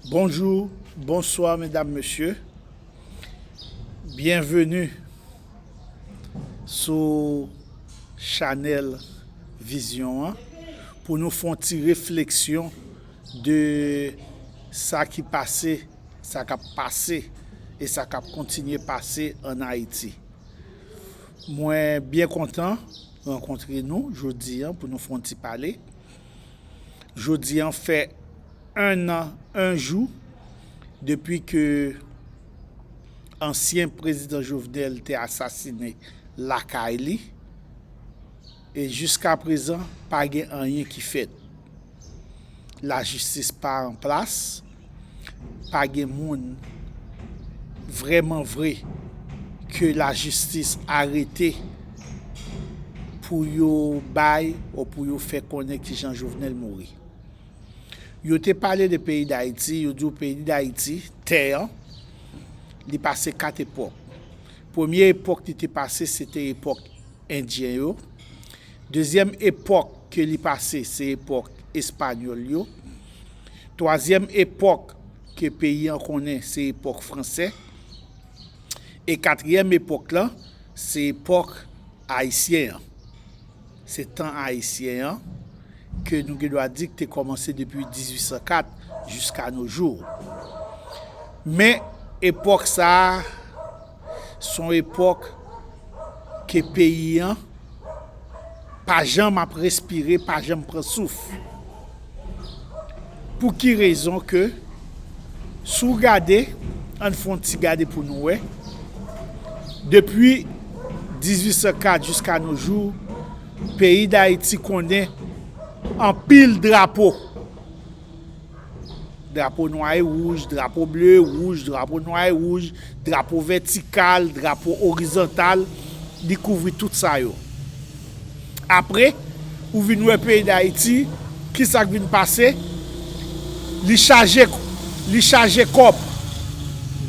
Bonjou, bonswa medam mesye, byenveni sou chanèl vizyon an pou nou fon ti refleksyon de sa ki pase, sa kap pase e sa kap kontinye pase an Ayiti. Mwen byen kontan rankontre nou jodi an pou nou fon ti pale. Jodi an fè 1 an 1 jou depi ke ansyen prezidan Jovenel te asasine lakay li e jiska prezan pa gen anyen ki fèt. Lajistis pa an plas. pa gen moun vreman vre ke la jistis arete pou yo bay ou pou yo fè konnen ki jan Jovenel mouri. Yo te pale de peyi Dayiti, yo di ou peyi Dayiti, tè an, li pase 4 epok. Premye epok li te pase, se te epok. Endyen yo. Dezyèm epòk ke li pase se epòk Espanyòl yo. Twazyèm epòk ke peyi an konnen se epòk Fransè. E katriyèm epòk lan se epòk Ayisyen an. Se tan Ayisyen an ke nou gen dwa di ki te kòmanse depi 1804 jiska no jou. Men epòk sa a. son epòk ke peyi an pa janm ap respire, pa janm pran souf. Pou ki rezon ke si w gade, an n fè yon ti gade pou nou wè, depi 1804 jiska no jou, peyi Dayiti konnen anpil drapo. Drapo nwa e wouj, drapo ble e wouj, drapo nwa e wouj, drapo vètikal, drapo orizontal, li kouvri tout sa yo. Apre, ou vin wè peyi Dayiti, ki sa k vin pase? Li chaje, li chaje kòb,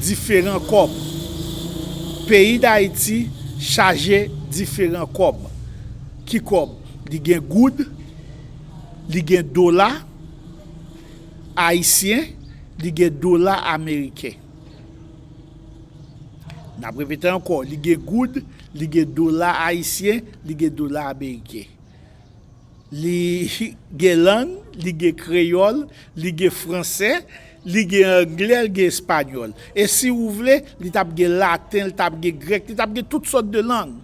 diferan kòb. Peyi Dayiti chaje diferan kòb. Ki kòb? Li gen goud, li gen dola. Ayisyen, li gen dola ameriken. N ap repete ankò, li gen goud, li gen dola ayisyen, li gen dola ameriken. Li gen lang, li gen kreyòl, li gen franse, li gen angle, li gen espanyòl. E si ou vle, li t ap gen laten, li t ap gen grèk, li t ap gen tout sòt de lang.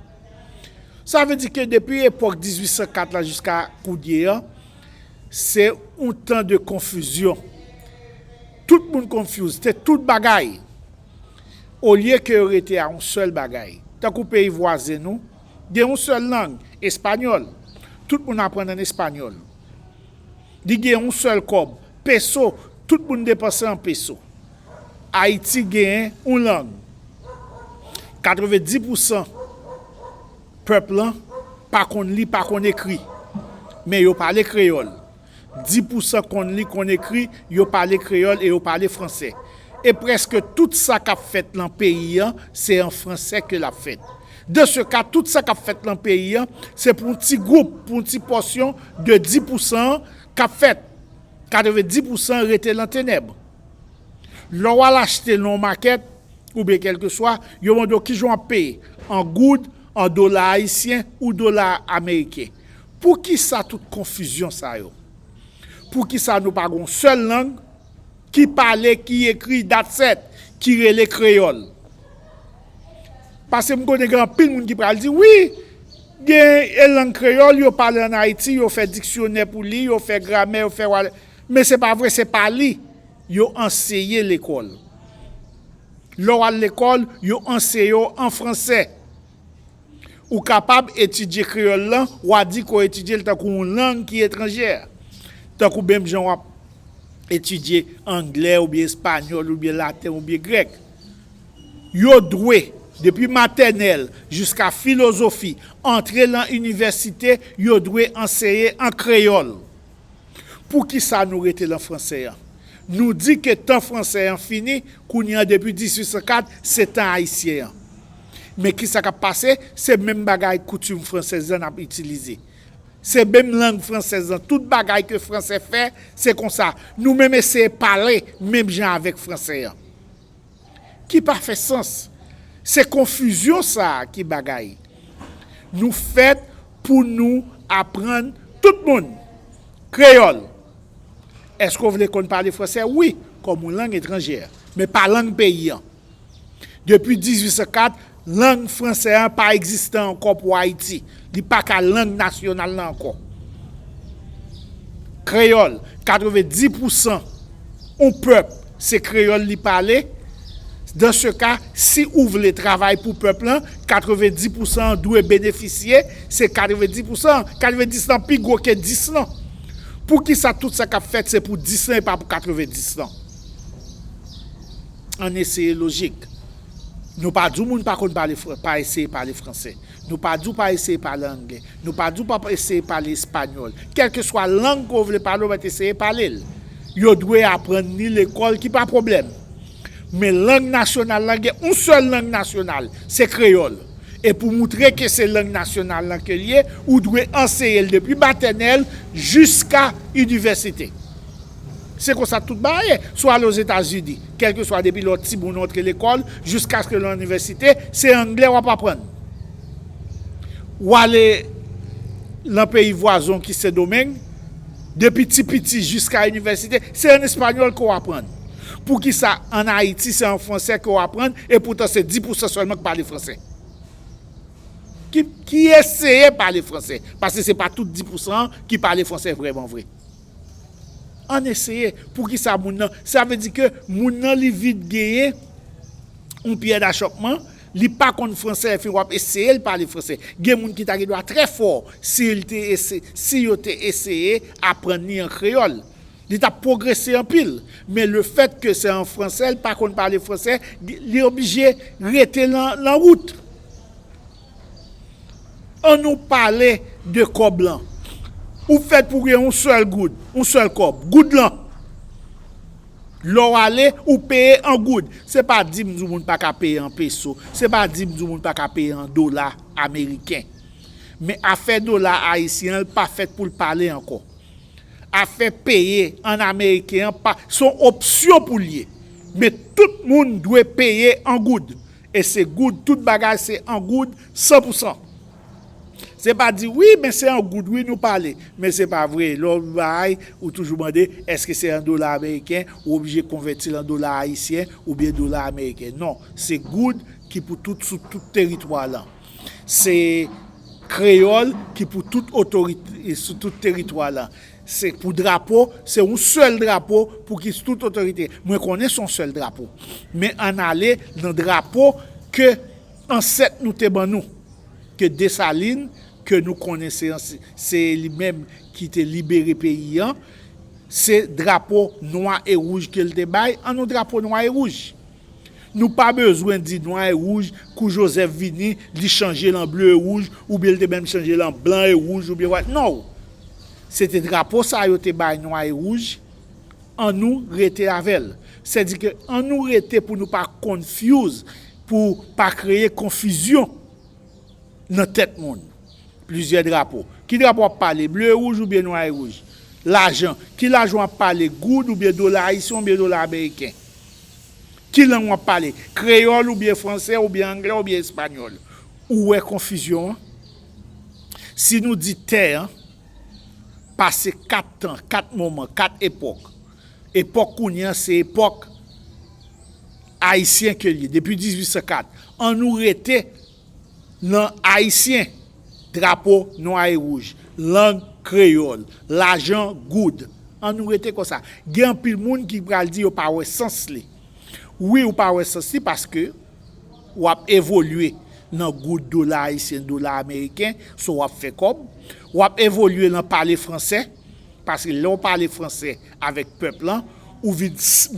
Sa vle di ke depi epòk 1804 la jiska kounye an, Se yon tan de konfizyon. Tout moun konfyouz, te tout bagay. Olye ke yo rete a yon sèl bagay. Tankou peyi vwazen nou, gen yon sèl lang, espanyòl. Tout moun aprann an espanyòl. Li gen yon sèl kòb, peso, tout moun depanse an peso. Ayiti gen yon lang. Katrevendis pousan. Pèp lan pa konn li, pa konn ekri. Men yo pale kreyòl. Dis pousan konn li, konn ekri, yo pale kreyòl e yo pale franse. E prèske tout sa k ap fèt lan peyi an, se an franse ke l ap fèt. De se ka, tout sa k ap fèt lan peyi an, se pou yon ti gwoup, pou yon ti pòsyon de dis pousan an k ap fèt. Katrevendis pousan rete lan tenèb. Lè w al achte lan yon makèt, oubyen kèlkeswa, yo mande w kijan w ap peye, an goud, an dola ayisyen ou dola ameriken. Poukisa tout konfizyon sa yo? Poukisa nou pa gen yon sèl lang ki pale, ki ekri, dat sèt, ki rele kreyòl? Paske m konnen gen anpil moun ki pral di, wi, gen e lang kreyòl yo pale an Ayiti, yo fè diksyonè pou li, yo fè gramè, yo fè wa, men se pa vre, se pa li. Yo anseye lekòl. Lè w al lekòl, yo anseye w an franse. Ou kapab etidye kreyòl lan, w a di ke w etidye l tankou yon lang ki etranjè. Tankou menm jan w ap etidye angle oubyen espanyòl oubyen laten oubyen grèk. Yo dwe, depi matènèl jiska filozofi, antre lan inivèsite, yo dwe anseye an kreyòl. Poukisa nou rete lan fransè an? Nou di ke tan fransè an fini, kounye an depi 1804 se tan ayisyen an. Men kisa kap pase, se menm bagay koutim fransèz lan nap itilize. Se menm lang fransèz lan, tout bagay ke fransè fè, se konsa. Nou menm eseye pale menm jan avèk fransè an. ki pa fè sans. Se konfizyon sa a ki bagay. Nou fèt pou nou aprann tout moun kreyòl. Èske ou vle konn pale franse? Wi, kòm yon lang etranjè, men pa lang peyi an. Depi 1804, Lang franse a pa egziste ankò pou Ayiti. Li pa ka lang nasyonal la ankò. Kreyòl, 90 pou san yon pèp se kreyòl li pale, dan se ka, si ou vle travay pou pèp lan, 90 pou san an dwe benefisye, se 90 pou san an. 90 lan pi gwo ke 10 lan. Pou ki sa tout sa k ap fèt se pou 10 lan e pa pou 90 lan? Ann eseye lojik. Nou pa di w moun pa konn pale fran, pa eseye pale franse. Nou pa di w pa eseye pale angle. Nou pa di w pa eseye pale espanyòl. Kèlkeswa lang ke w vle pale, w mèt eseye pale l. Yo dwe aprann ni lekòl ki pa pwoblèm. Men lang nasyonal lan gen yon sèl lang nasyonal, se kreyòl. E pou moutre ke se lang nasyonal lan ke l ye, ou dwe anseye l depi matènèl jiska inivèsite. Se konsa tout bagay ye, swa ale Ozetazini, kèlkeswa depi lè w ti moun ou antre lekòl jiskaske lè w inivèsite, se angle w ap aprann. Ou ale lan peyi vwazon ki Sendomeng, depi ti piti jiska inivèsite, se an espanyòl ke w aprann. Poukisa an Ayiti se an fransè ke w aprann e poutan se 10 pousan sèlman ki pale fransè? Ki eseye pale fransè? Paske se pa tout 10 pousan an ki pale fransè vrèman vre. Ann eseye poukisa moun nan sa vle di ke moun nan li vin genyen yon pyè dachòpman li pa konn fransè epi wap eseye l pale fransè gen moun ki ta gen dwa trè fò si l te eseye si yo te eseye aprann li an kreyòl li tap pwogrese anpil men le fèt ke se an fransè l pa konn pale fransè li oblije rete lan wout. An nou pale de kòb lan. Ou fèt pou gen yon sèl goud, yon sèl kòb, goud lan. Lè w ale, ou peye an goud. Se pa di m di w moun pa ka peye an peso, se pa di m di w moun pa ka peye an dola ameriken. Men afè dola ayisyen an, l pa fèt pou l pale ankò. Afè peye an ameriken an, se yon opsyon pou l ye. Men tout moun dwe peye an goud. E se goud tout bagay se an goud san pou san. Se pa di wi men se an goud wi nou pale men se pa vre lè w bay ou toujou mande eske se an dola ameriken ou oblije konvèti l an dola ayisyen oubyen dola ameriken non se goud ki pou tout sou tout teritwa lan se kreyòl ki pou tout otorite sou tout teritwa lan Se pou drapo, se yon sèl drapo pou ki tout otorite. Mwen konnen se yon sèl drapo. Men ann ale nan drapo ke ansèt nou te ban nou. Ke Desalin, ke nou konnen se li menm ki te libere peyi an, se drapo nwa e wouj ke l te bay, an nou drapo nwa e wouj. Nou pa bezwen di nwa e wouj kou Joseph vini li chanje l an ble e wouj oubyen l te menm chanje l an blan e wouj oubyen wat non se te drapo sa yo te bay nwa e wouj an nou rete avè l sè di ke an nou rete pou nou pa konfyouz pou pa kreye konfizyon nan tèt moun plizyè drapo ki drapo wap pale ble e wouj oubyen nwa e wouj lajan ki lajan wap pale goud oubyen dola ayisyen oubyen dola ameriken Ki lang wap pale? Kreyòl oubyen fransè oubyen anglè oubyen espanyòl? Ou wè konfizyon an? Si nou di tè an pase 4 tan, 4 moman, 4 epòk, epòk kounye an se epòk ayisyen ke li ye, depi 1804, an nou rete. Nan Ayisyen, drapo nwa e wouj, lang kreyòl, lajan goud. An nou rete konsa. Gen anpil moun ki pral di yo pa wè sans li. Wi ou pa wè sans li paske w ap evolye nan goud, dola ayisyen, dola ameriken, so w ap fè kòb. W ap evolye nan pale fransè, paske lè w pale fransè avèk pèp lan, ou vin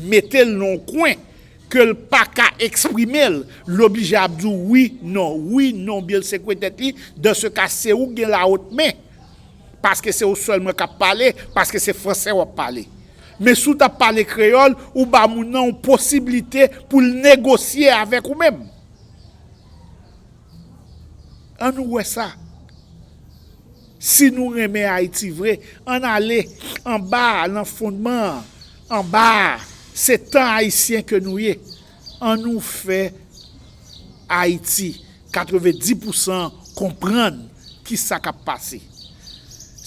mete l nan yon kwen ke l paka eksprime l, l oblije ap di w wi, non, wi, non, byen l sekwe tèt li, dan se ka se ou k gen la haute main, paske se ou sèlman k ap pale, paske se fransè w ap pale. Men si w t ap pale kreyòl, ou ba moun nan yon posiblite pou l negosye avèk ou menm. An nou wè sa. Si nou renmen Ayiti vre, an n ale anba a, lan fondman an. Anba a, se tan ayisyen ke nou ye, an nou fè Ayiti 90 pousan konprann ki sa kap pase.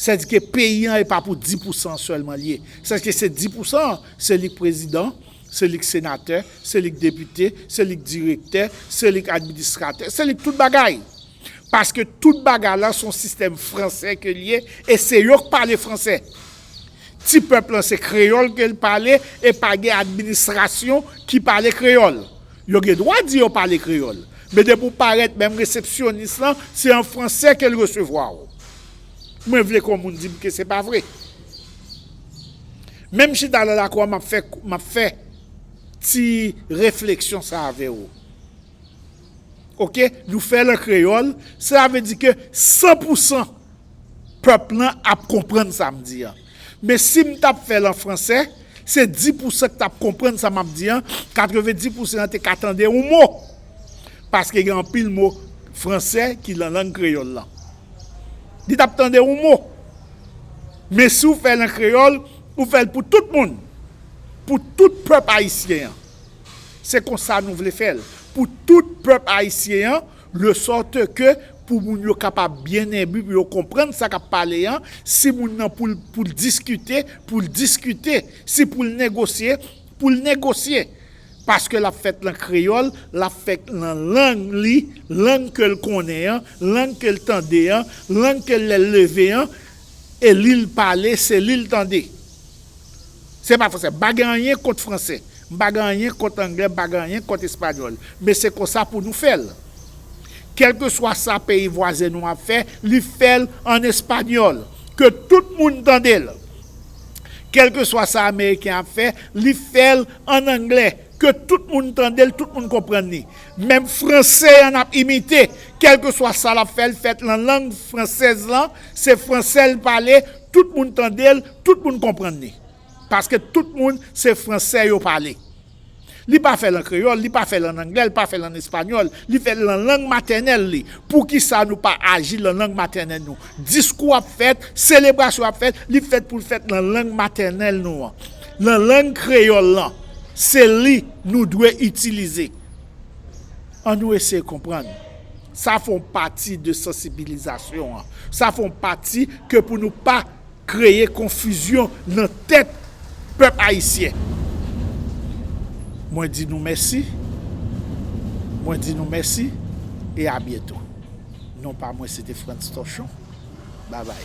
Sèdike peyi an e pa pou 10 pousan an sèlman li ye. Sèdike se 10 pousan an, se li k prezidan, se li k senatè, se li k depite, se li k direktè, se li k administratè, se li k tout bagay. Paske tout bagay la son sistèm fransè ke li ye e se yo k pale fransè. Ti pèp lan se kreyòl ke l pale e pa gen administrasyon ki pale kreyòl. Yo gen dwa di yo pale kreyòl, men depi w parèt menm resepsyonis lan se an franse ke l resevwa w. Mwen vle ke yon moun di m ke se pa vre. Men m chita nan lakou an m ap fè, m ap fè ti refleksyon sa avè w. Ok, nou fè l an kreyòl, sela vle di ke san pou san pèp lan ap konprann sa m di an. Men si m t ap fè l an franse, se dis pousan k t ap konprann sa m ap di an, katrevendi pousan an te ka tande yon mo. Paske gen anpil mo franse ki lan lang kreyòl lan. Li t ap tande yon mo. Men si w fè l an kreyòl, ou fè l pou tout moun. Pou tout pèp ayisyen an. Se konsa nou vle fè l. Pou tout pèp ayisyen an. Le sorte ke pou moun yo kapab byen enbi, pou yo konprann sa k ap pale an, si moun nan pou l pou l diskite, pou l diskite, si pou l negosye, pou l negosye. Paske l ap fèt lan kreyòl, l ap fèt lan lang li, lang ke l konnen an, lang ke l tande an, lang ke lè l leve an, e li l pale, se li l tande. Se pa fransè. M pa gen anyen kont fransè. M pa gen anyen kont anglè. M pa gen anyen kont espanyòl. Men se konsa pou nou fè l. Kèlkeswa sa peyi vwazen nou ap fè, li fè l an espanyòl. Ke tout moun tande l. Kèlkeswa sa ameriken ap fè, li fè l an anglè. Ke tout moun tande l, tout moun konprann li. Menm fransè an ap imite. Kèlkeswa sa l ap fè, l fè l lan lang fransèz lan. Se fransè l pale. Tout moun tande l, tout moun konprann li. Paske tout moun se franse yo pale. Li pa fè l an kreyòl, li pa fè l an angle, li pa fè l an espanyòl. Li fè l lan lang matènèl li. Poukisa nou pa aji lan lang matènèl nou? Diskou ap fèt, selebrasyon ap fèt, li fèt pou l fèt lan lang matènèl nou an. Lan lang kreyòl lan. Se li nou dwe itilize. An nou eseye konprann. Sa fon pati de sansibilizasyon an. Sa fon pati ke pou nou pa kreye konfizyon nan tèt pèp ayisyen. Mwen di nou mèsi. Mwen di nou mèsi e a byento. Non pa mwen se te Frantz Torchon. Babay.